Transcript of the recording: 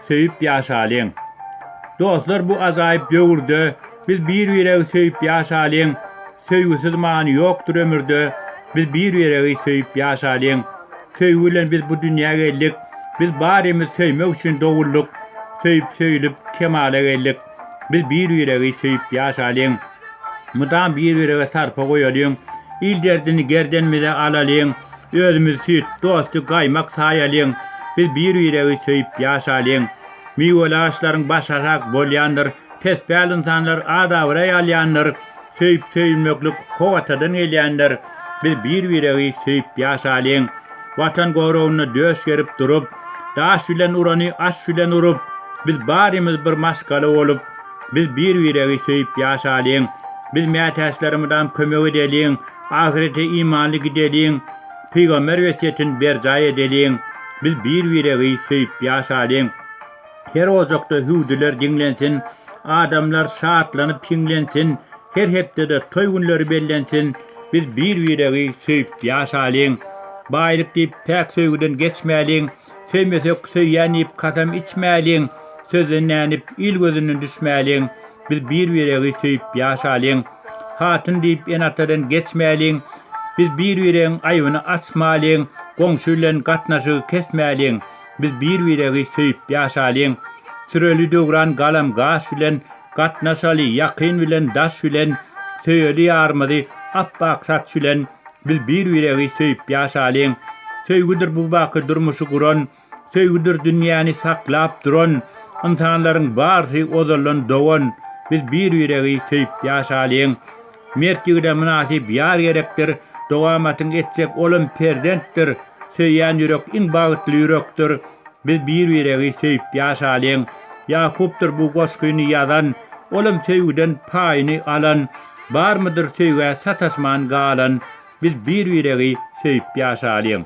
Söýüp ýaşalyň. Dostlar bu ajaýyp döwürde biz bir-biregi söýüp ýaşalyň. Söýgüsiz many ýokdur ömürde. Biz bir-biregi söýüp ýaşalyň. Söýgi bilen biz bu dünýä geldik. Biz barymyz söýmek üçin doguldyk. Söýüp-söýülip kemala geldik. Biz bir-biregi söýüp ýaşalyň, Mydam bir-birege sarpa goýalyň, Il derdini gerdenimize alalyň, Özümiz süýt, dosty gaýmak saýalyň, Biz bir-biregi söýüp ýaşalyň. Miweli agaçlaryň başy aşak bolýandyr, Pespel ynsanlar az-abraý alýandyr, Söýüp söýülmeklik kok atadan gelýändir biz bir biregi söýüp ýaşalyň watan goragynda döş gerip durup daş bilen urany aş bilen urup biz barymyz bir maşgala bolup biz bir biregi söýüp ýaşalyň biz mätäçlerimizam kömek edeliň ahyrete imanly gideliň pygamber wesýetin berjaý edeliň biz bir biregi söýüp ýaşalyň. Her ojakda hüwdüler diňlensin, Adamlar şatlanyp hiňlensin, Her hepdede toý günleri bellensin, Biz bir-biregi söýüp ýaşalyň. Baýlyk diýip päk söýgüden geçmäliň, Söýmesek söýýän diýip kasam içmäliň, Sözden dänip il gözünden düşmäliň, Biz bir-biregi söýüp ýaşalyň. Hatyn diýip ene-atadan geçmäliň, Biz bir-biregiň aýbyny açmalyň, Goňşy bilen gatnaşygy kesmäliň, Biz bir-biregi söýüp ýaşalyň, Süreli döwran galam gaş bilen, Gatnaşaly ýakyn bilen daş bilen, Söýeli ýarymyzy apbak saç bilen, Biz bir-biregi söýüp ýaşalyň. Söýgüdir bu baky durmuşy guran, Söýgüdir dünýäni saklap duran, Ynsanlaryň barsy ozaldan dogan, Biz bir-biregi söýüp ýaşalyň. Mert ýigide mynasyp ýar gerekdir, Dogamatyň etjek olam perzentdir, Söýýän ýürek iň bagtly ýürekdir, Biz bir-biregi söýüp ýaşalyň. Ýakupdyr bu goşgyny ýazan, Olam söýgüden paýyny alan, Barmydyr söýgä sataşman galan, Biz bir-biregi söýüp ýaşalyň.